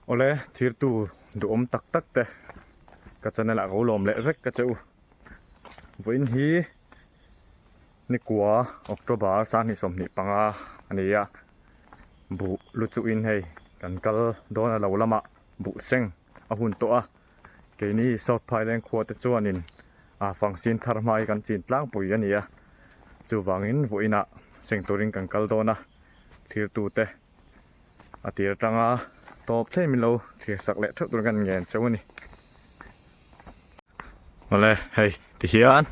ole thir tu duhawm tak tak te ka channel ah ka lo lawm leh vek ka che u vawiin hi nikuwa october sang hnih sawmhnih panga a ni a buh lu chu in hei kan kal dawn a lo lamah buhseng-- a hun tawh a, keini South Phaileng khua te chuanin a fangsin thar hma hi kan chin tlangpui a nia, chuvangin vawiinah seng turin kan kal dawn a, thirtute a tir atanga tawp thei min lo thlir sak leh theuh tur kan ngen cheu a ni. Awle hei ti hian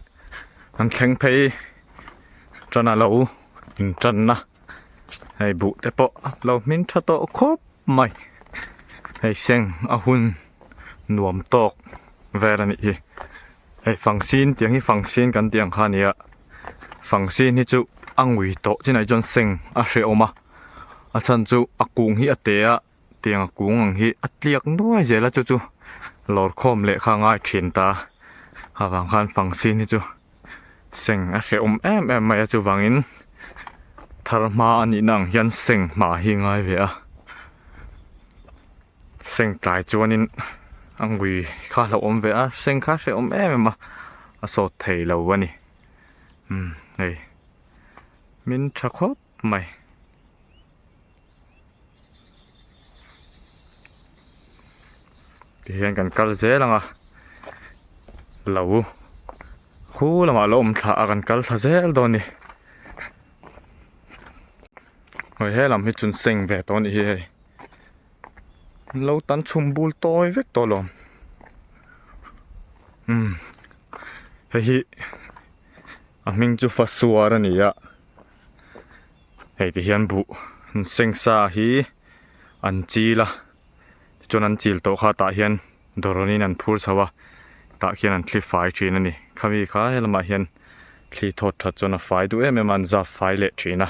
an thleng phei tan a lo in tan a hei buh te pawh a lo hmin tha tawh khawp mai hei seng a hun nuam tawk vel a nih hi hei fangsin tiang hi fangsin kan tih ang kha nia fangsin hi chu a ngui tawh chinah hi chuan seng a hre awm a a chhan chu a kung hi a te a. tianga kung ang hi a tliak nuai zel a chu chu lawrkhawm leh kha ngai thin ta a vang khan fang sin hi chu seng a hrehawm em em mai a chuvangin thar hma a nihna ang hian seng hma hi ngai ve a seng tlai chuanin a ngui kha a hlauhawm ve a seng kha a hrehawm em em a a sawt thei lo a ni hei min tha khawp mai. Tih hian kan kal zel ang a, lo khu lamah lo awm thla a kan kal thla zel dawn a ni. Hawih helam hi chun seng ve tawh a nih hi hei. Lo tan chhum bul tawi vek tawh lo. Umm hei hi a hming chu Fasuar a ni a. Hei te hian buh seng sa hi an chil a tichuan an chil tawh khatah hian dawranin an phur chho a tah khian an thli fai thin a ni khami kha helamah hian thli thawt that chuan a fai duh em em a an zap fai leh thin a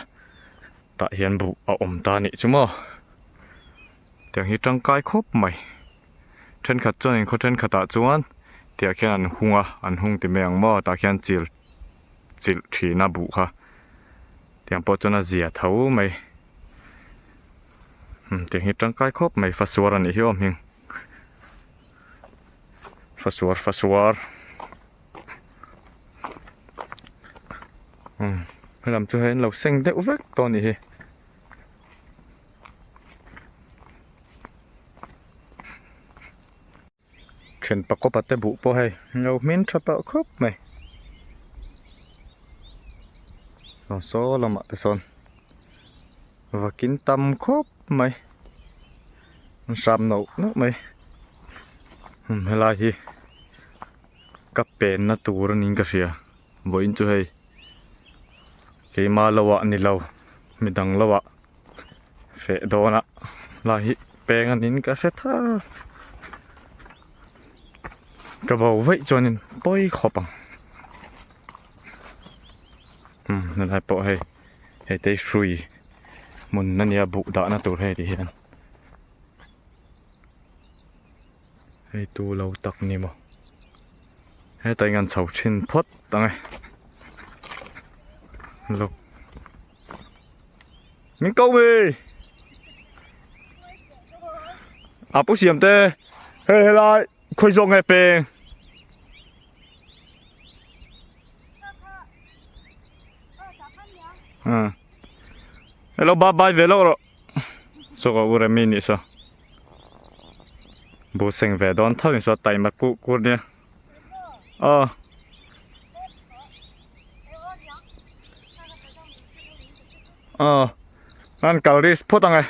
tah hian buh a awm ta nih chu maw tiang hi tangkai khawp mai thenkhat chuan in khaw thenkhatah chuan tiah khian an hung a an hung ti mai ang maw tah khian chil. chilh thin a buh kha tiang pawh chuan a zia tho mai umm tiang hi tangkai khawp mai fasuar a nih hi awm hming fasuar fasuar umm helam chu hei an lo seng deuh vek tawh a nih hi Then pakawpa te buh pawh hei lo hmin tha tawh khawp mai. Saw saw lamah te sawn vakin tam khawp mai. An hrap nauh nauh mai. Hum helai hi ka penna tur anin ka hria vawiin chu hei. Keimah lo ah nilo mi dang lo ah feh dawn ah lai hi peng a nin ka hre tha a ka bo veih chuan in pawi khawp ang umm tunah pawh hei hei te hi hrui hmun a nia buh dah na tur hei ri hian. Hei tu lo tak ni maw. Heta inga an chho thin phawt ang e. Lo. Min kau mi. A pu siam te. Hei hei lai. Khoi zong he peng. À. Hello bye bye về lâu rồi. chu ka u remi nih saw bu seng ve dawn thar in saw taima kuh kur nia aw aw an kal ris phawt ang e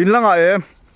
in langa em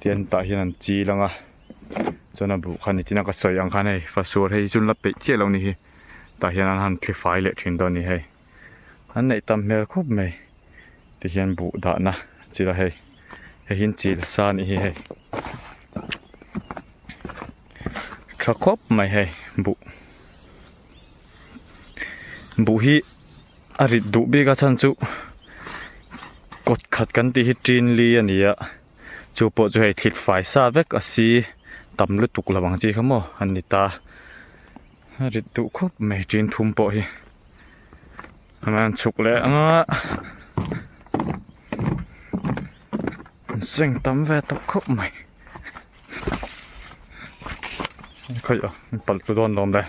Tian tah hian an chil ang a, chuan a buh khan ni tiin a ka sawi ang khan hei fa sual hei chun la peih chiah lo ni hi tah hian an han thli fai leh thin dawn a ni hei. An neih tam hmel khawp mai tihian buh dahna chil a hei, hei hian chil sa a nih hi hei. Tha khawp mai hei buh. buh hi a rit duh bik a chhan chu kawt khat kan tih hi tinli a ni a chu pawh chu hei thlit fai sa vek a si tam lutuk lo ang chi kha maw a ni ta a rit duh khawp mai tin thum pawh hi a man chhuk leh ang a an seng tam ve tawh khawp mai. Khaih a, min palh tlu dawn lawm le.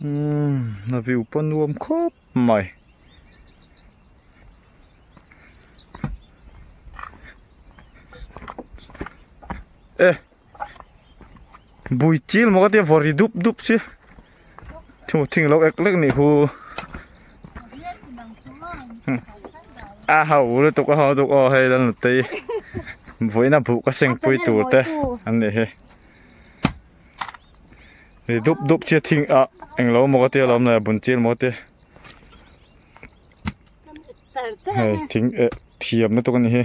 Umm, na view pawh nuam khawp mai. Eh! Bui chil maw ka tia vawr ri dup dup si. Thu thing lo ek lek ni hu. A ha u le tuk a ha tuk o hei lan la tei. Voi na bu ka seng pui tur te an ni hi. Ri dup dup chi thing a eng lo maw ka tia lom la bun chil maw te. Hei thing e thiam na tuk a ni hi.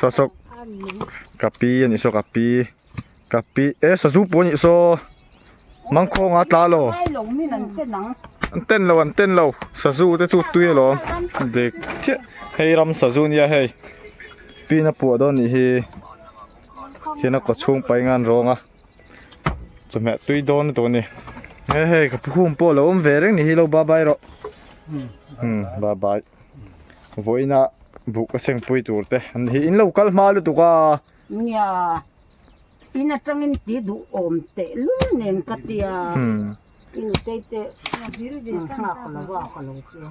Saw saw ka pi a nih saw ka pi ka pi e sazu pawh a nih saw mangkhawng a tla lo an ten lo an ten lo sazu te chu tui alawm dek chiah hei ram sazu nia hei pin a puah dawn anih hi khian a kawchhung pai ngan rang a chawhmeh a tui dawn tawh a ni he hei ka pu hum pawh a lo awm ve reng nih hi lo bye bye rawh bye bye. Vawiina buk a seng pui tur te an ni hi in lo kal hma lutuk a. Nia, in atangin tih duh awm teh lul nen ka ti a. I nutei te nghak lo a ka lo ti a.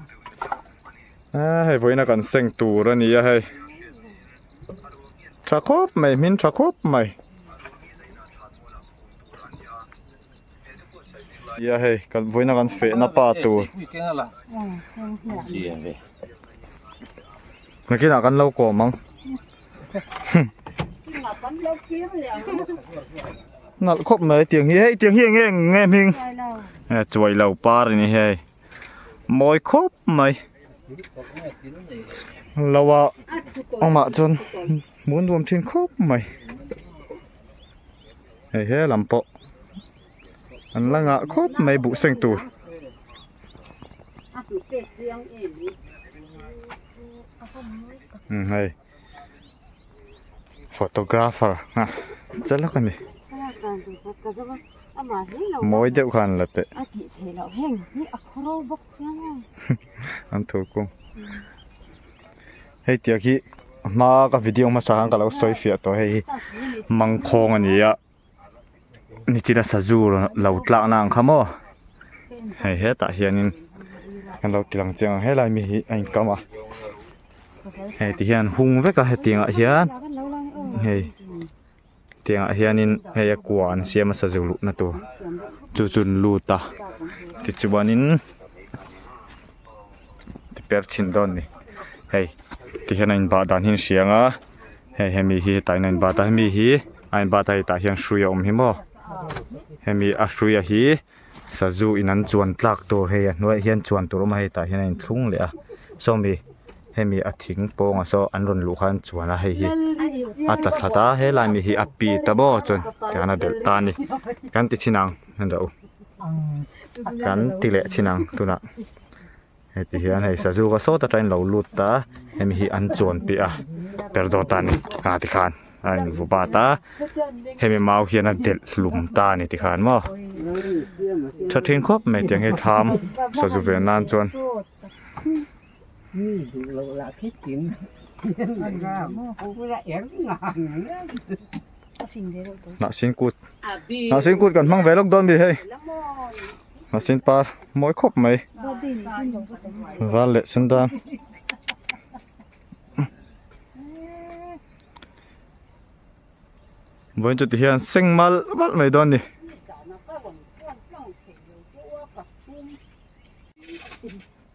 A hei vawiina kan seng tur a ni a hei. Tha khawp mai, hmin tha khawp mai. Tia hei kan buina kan fehna pa tur Nakinah kan lo kawm ang Nalh khawp mai tiang hi hei tiang hi eng nge nge hming He chuai lo par ni hei Mawi khawp mai Lawa awmah chuan mun nuam thin khawp mai hei he lam pawh an la ngah khawp mai buhseng tur hei photographer a che lawk a ni mawi deuh khan la teh an thu kung. Hei tiak hi a hma ka video hmasa khan ka lo sawi fiah tawh hei hi mangkhawng a ni a nichina sazu lo tlakna ang kha maw hei hetah hianin kan lo tilang chiang ang helai mi hi a inkam a heti hian hung veka hetiang ah hian hei-- tiangah hianin hei a kua an siam a sa zu luhna tur chu chun lut a tichuanin ti per chhin dawn a ni hei ti hian a in bah dan hi an hriang a hei hemi hi hetah hian a in bat a hemi hi a in bat a hetah hian hrui a awm hi maw hemi a hruia hi-- Sazu in an chuan tlak tur hei a hnuaih hian chuan tur awma hei tah hian a in thlung leh a. Sawmi, hemi a thing pawnga saw an rawn luh kha an chuan a hei hi a ta tlat a, helai mi hi a pi ta bo chuan tiang a belh ta a ni. Kan ti chin ang, hun rah u. Kan ti leh chin ang tunah. heti hian hei sazuka sawta tangin lo lut ta a hemi hi an chuan piah a perdot a ni a tikhan a in vu bat a hemi mau hian a delh hlum ta a ni tikhan maw tha thin khawp mai a tiang he thlam sazu ve nan chuan Hnahsin kut. Hnahsin kut kan hmang ve lawk dawn mi hei. Hnahsin par mawi khawp mai. Val leh sen dan. Vawiin chuti hian seng mal mal mai dawn ni.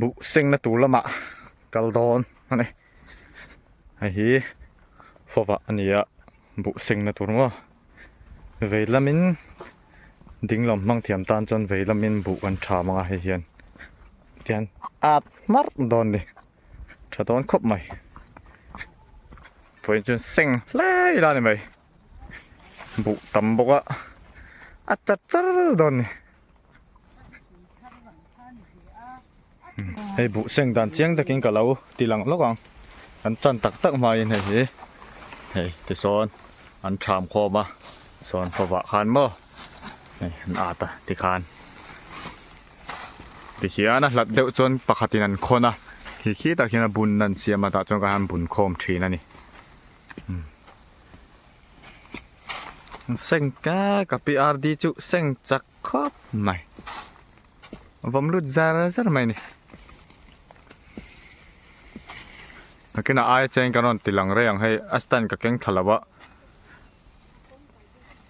buh sengna tur lama kal dawn a ni hei hi fova a ni a buh sengna tur maw vei lamin ding lam hmang thiam tan chuan vei lamin buh kan tha mang a hei hian tian at hmar dawn ni tha dawn khawp mai pawi chuan seng hlai la ni mai. buh tam bawk a a ta tar dawn a ni hei buh seng dan chiang takin ka lo ti lang lawk ang kan tan tak tak hmai in hei hi hei tisawn an tham khawm a sawn pawhvah khan maw hei an at a tikhan tihian a hlat deuh chuan pakhat in an khawn a khi khi tak hian a bun a an siam a tah chuan ka han bun khawm thin a ni. seng ka ka pi ardi chu seng chak khawp mai a vawm lut zar zar mai a ni a kina aia chuan ka rawn tilang rei ang hei a stand ka keng tha lo va.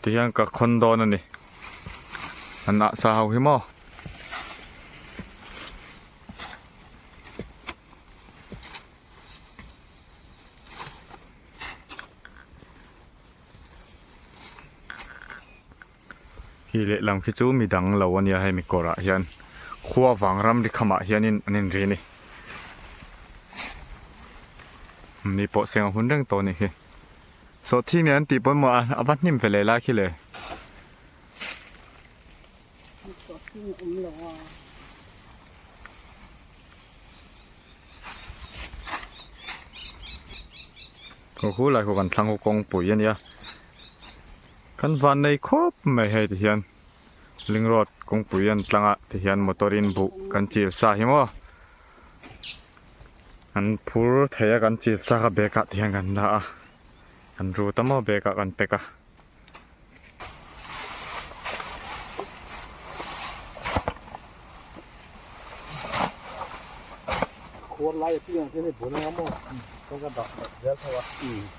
Ti hian ka khawn dawn a ni. An ah sa ho hi maw? Hei leh lam khi chu midang lo a nia hei mi kawrah hian khua vang ramri khamah hianin an inri a ni. Ni pawh seng a hun reng tawh a nih hi. Sawhthi nge an tih pawimawh a, a va hnim ve leh lai khi le. Kawr hulai ho kan thlang ho kawngpui a nia. Kan vannei khawp mai hei ti hian ling road kawngpui an tlang a ti hian motor in buh kan chil sa hi maw an phur thei a kan chil sa kha bag ah ti hian kan dah a kan ru ta maw bag ah kan pack a khuar lai a piang ah khian hei bunang a maw kan ka dah rial tho a.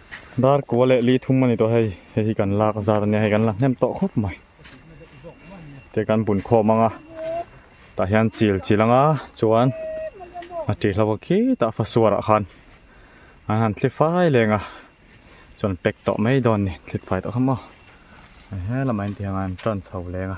Dar kua leh li thum a ni tawh hei, hei hi kan lak zat a nia, hei kan la hnem tawh khawp mai. Heti kan bun khawm ang a, tah hian chil chil ang a, chuan a ṭih hlo vawk khitah fa suarah khan an han thli fai leng a, chuan an pack tawh mai dawn a ni, an thlit fai tawh kha maw. Hei he lamah en tih ang a, an ṭan chho leng a.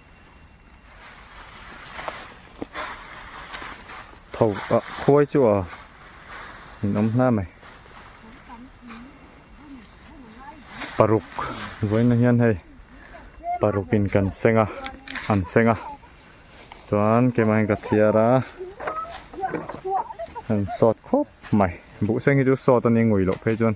Tho a khuai chu a in awm hla mai. Paruk vawiin a hian hei parukin kan seng a an seng a chuan kema in ka thiar a an sawt khawp mai buh seng hi chu sawt a ni ngui loh phei chuan.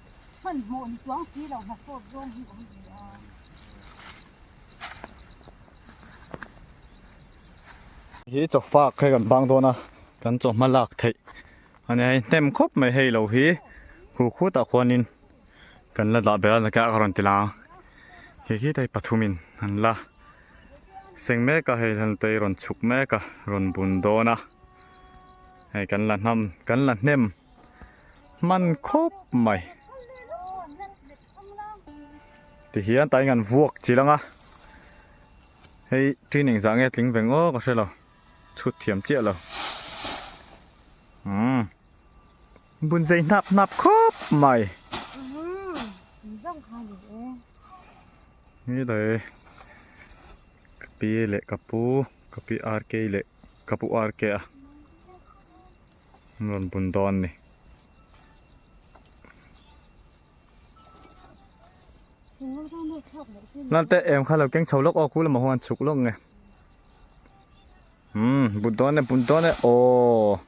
Hmanhmawh ni tuang si lo hna sawt zawng hi awm ve a. Hi chaw fak hi kan bang dawn a. Kan chaw hma lak theih a nia. Hei hnem khawp mai hei lo hi khu khu tah khuan in kan la dah bera ka rawn ti lang a. Khi khi te hi pathum in an la seng mek a. Hei han tei rawn chhuk mek a, rawn bun dawn a. Hei kan la hnam, kan la hnem. Hman khawp mai. Ti hian tain kan vuak chil anga. Hei training zah nge tling veng aw ka hrelo. Chhut thiam chiah lo. Umm. Bun zai hnap hnap khawp mai. Ni le. Pi le kapu, kapi RK le kapu RK a. Rawn pun dawn a ni. Nan te em kha lo keng chho lawk aw, khulam ah huan chhuk lawk nge. Hmm, pun dawn e, pun dawn e, aww.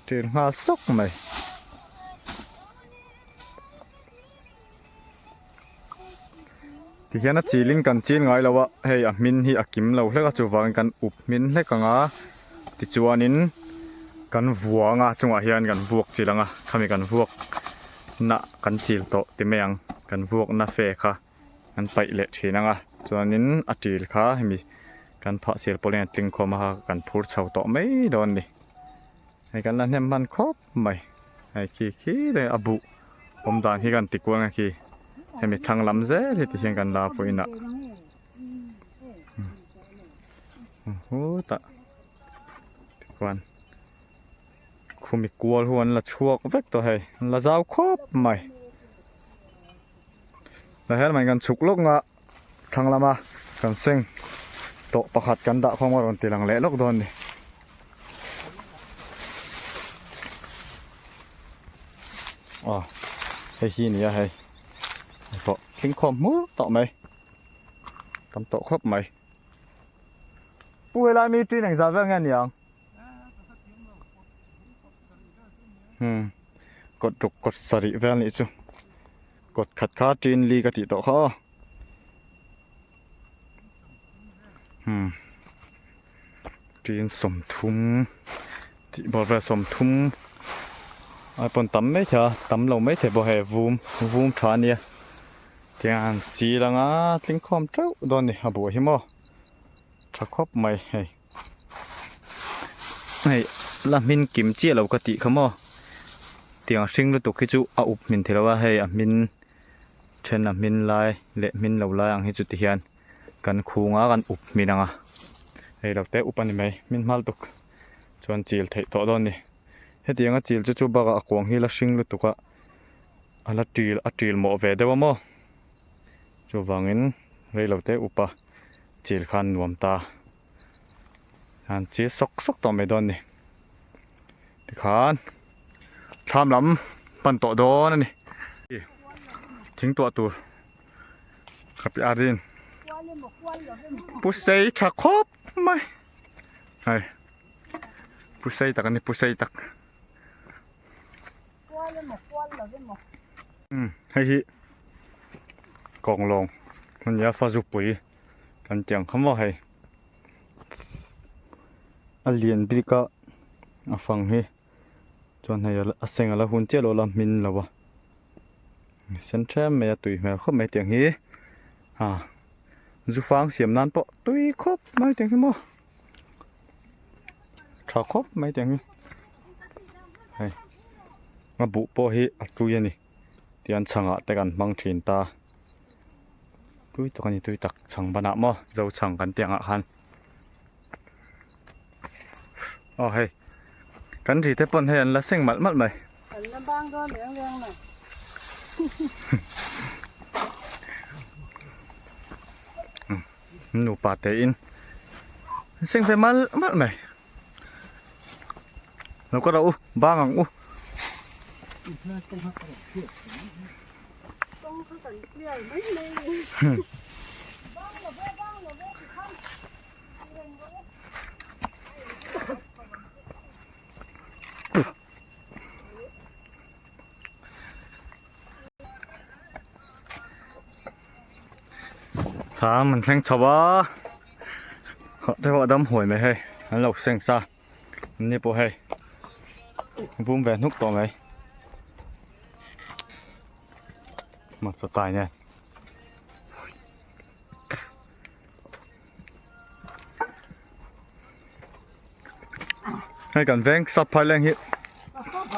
Tir nghal sawk mai. Tikhian a chiling kan chil ngai lo a hei a hmin hi a kim lo hlek a chuvang in kan up hmin hlek ang a tichuanin kan vuanga chungah hian kan vuak chil ang a khami kan vuak na kan chil tawh ti mai ang kan vuak na fe kha kan paih leh thin ang a chuanin a chil kha hemi kan phah sil pawh hian a tling khawm a kan phur chho tawh mai dawn a ni hei kan la hnem hman khawp. Mai hei khi khi te a buh awm dan hi kan ti kual nge khi hemi thlang lam zel hi ti hian kan la pawhin a hutah chuan khumi kual ho an la chhuak vek tawh hei an la zau khawp mai tah hian kan chhuk lawk nga. Thlang lama kan seng tawh pakhat kan dah khawm a rawn ti lang leh lawk dawn a ni. Aw, hei hi nia hei. Tawh tling khawm hmul tawh mai. Tam tawh khawp mai. Pu helai mi tui neng za vel nge niang? Hmm. Kawt ruk kawt sarih vel nih chu. Kawt khat kha ṭin li ka tih tawh kha aw. Hmm. Ṭin sawmthum tih bawr vel sawmthum ai pawn tam mai thei a, tam lo mai thei pawh hei vum vum ṭha a nia. Tiang chil anga tling khawm ṭeuh dawn a ni a buh hi maw. Ṭha khawp mai hei. Hei la hmin kim chiah lo ka tih kha maw tiang hring lutuk hi chu a up hmin theih lo a, hei a hmin then a hmin lai leh hmin lo lai ang hi chu tihian kan khunga kan up hmin ang a, hei lo te up a ni mai hmin hmal tuk chuan chil theih tawh dawn a ni, heti anga chil chu chu bakah a kuang hi la hring lutuk a a la ṭil a ṭil mawh ve deuh a maw chuvangin reilote up a. chil khan nuam ta han chil sawk sawk tawh mai dawn ni tikhan thlam lam pan tawh dawn a ni thing tuah tur ka pi arin pusei tha khawp mai hai pusei tak a ni pusei tak Kual emaw kual lo emaw. Umm hei hi Kawnglawng a nia Fazupui kan tih ang kham a hei a lian bik a a fang hi chuan hei a seng a la hun chiah lawla hmin lo a a sen ṭhiam mai a tui hmel khawp mai a tiang hi a zu fang siam nan pawh tui khawp mai a tiang hi maw. tha khawp mai te ang hi hei a buh pawh hi a tui a ni tian chhang ah te kan hmang thin ta tui tak a ni tui tak chhang ban ah maw zo chhang kan tih ang ah khan aw hei kan ri te pawn hei an la seng malh malh mai an la bang dawn leng leng mai Nupa tein an seng ve mal mal mai. Lo ka rau u, bang ang u. Thlam an thleng chho a hah te pawh a dam huai mai hei an lo seng sa an ni pawh hei a bum ve hnuk tawh mai hmaksa tai nen hei kan veng sap phar leng hi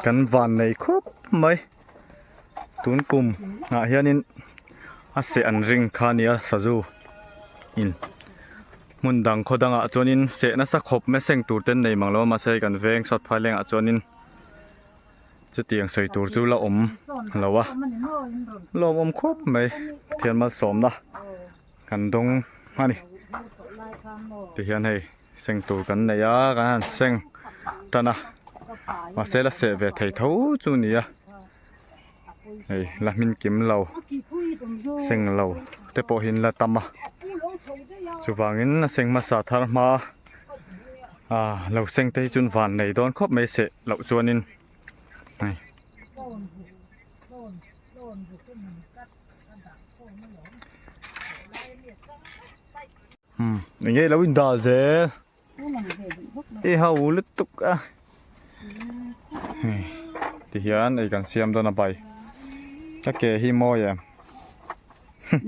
kan van nei khawp mai. tun kum ah hianin a seh an ring kha a nia sazu in hmun dang khaw dangah chuanin seh nasa khawp meseng tur te an nei mang lo a mahse kan veng sawiphaihlengah chuanin chutiang sawi tur chu la awm lo a lawmawm khawp mai pathian malsawmna. Kan dawng a ni. Ti hian hei seng tur kan nei a, kan han seng tan a. Mahse la seh ve thei tho chu ni a. Hei la hmin kim lo, seng lo te pawh hi la tam a. Chuvangin la seng hmasa thar hma a. Aaa lo seng te hi chuan van nei dawn khawp mai seh loh chuanin hei. Engelo inda ze i ho lutuk a tihian ei kan siam dona bai ka ke hi mawi em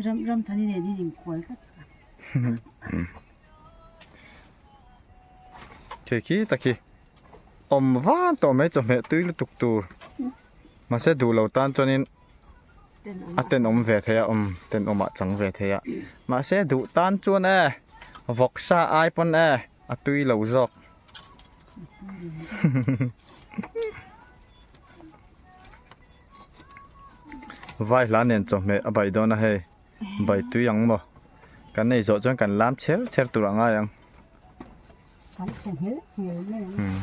ram ram thani nen hi ning khual tlat ke khi ta khi om van to mai chawhmeh tui lutuk tur mase duh lo tan chuan in a ten awm ve thei a um ten awm ah chang ve thei a mahse duh tan chuan e vawk sa ai pawn e a tui lo zawk vai hla nen chawhmeh a baih dawn a hei bai tui ang maw kan nei zawh chuan kan lam chher chher tur a ngai ang kan hre nghilh nghilh mai ang.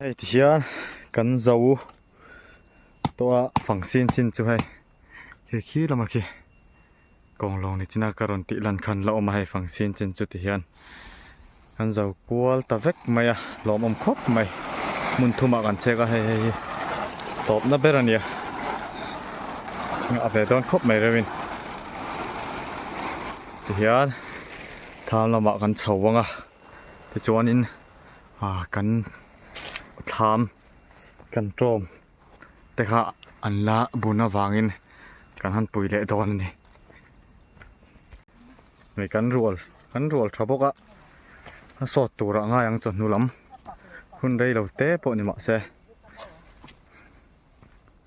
hei ti hian kan zo tawh a fang sin sin chu hei khi khi lama khi kawnglawng ni china ka rawn tih lan khan la awm a hei fang sin sin chu ti hian kan zo kual ta vek mai a hlawmawm khawp mai hmun thum ah kan chhek a hei hei hi tawp na ber a ni a ngah ve dawn khawp mai reuhin ti hian tham lamah kan chho vang a tichuan in ah kan thlam kan tawm te kha an la bun avangin kan han pui leh dawn a ni hei kan rual kan rual tha bawk a a sawt tura ngai ang chawhnu lam hun rei lo te pawh ni mahse.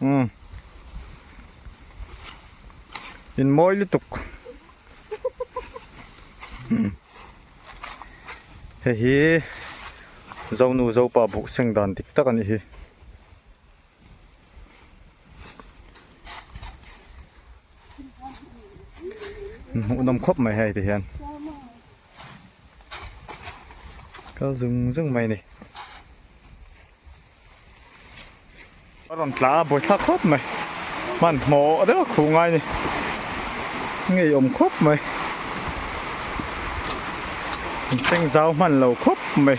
umm in mawi lutuk umm hei hi zonu zopa buh seng dan dik tak a nih hi. hmuhnawm khawp mai hei te hian kal zung zung mai ni a rawn tla a bawih thlak khawp mai man hmaw deuh khu ngai ni ngei awm khawp mai seng zau hman lo khawp mai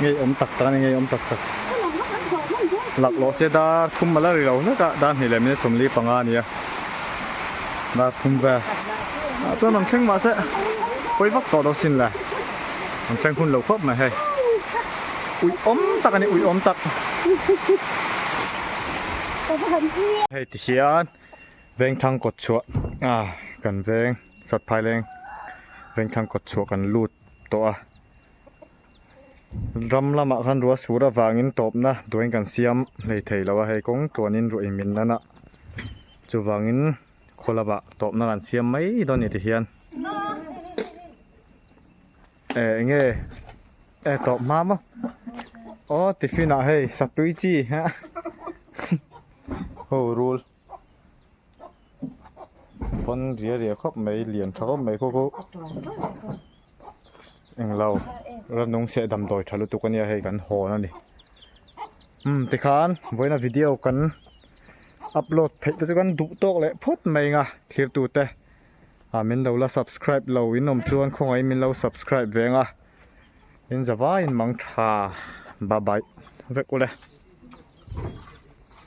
Ngeiawm tak tak a ni, ngeiawm tak tak. Laklawh se dar thum a la ri lo hlek a, dar hnih leh minute sawmli panga a ni a. Dar thum vel. A chuan an thleng mah se, pawi vak tawh lo sin le. An thleng hun lo khawp mai hei. Uiawm tak a ni, uiawm tak. Hei ti hian Vengthang kawtchhuah a kan veng, Satphaileng Vengthang kawtchhuah kan lut tawh a. Ram lamah khan rua sur avangin tawpna duain kan siam hlei thei lo a, hei kawng tluanin ruih min nana chuvangin khaw lamah tawpna kan siam mai dawn ni tihian eh eng nge eh tawp hma maw aw tiffin ah hei satui chi ho rul. pawn ria ria khawp mai lian tha khawp mai khaw khaw englo rannung seh damdawi tha lutuk ania hei kan hawn a ni hmm tikhan vawiin a video kan upload theih te chu kan duh tawk leh phawt mai anga thlir tute a min lo la subscribe lo inawm chuan khawngaih min lo subscribe ve anga in zavaiin mangtha bye bye vek ula.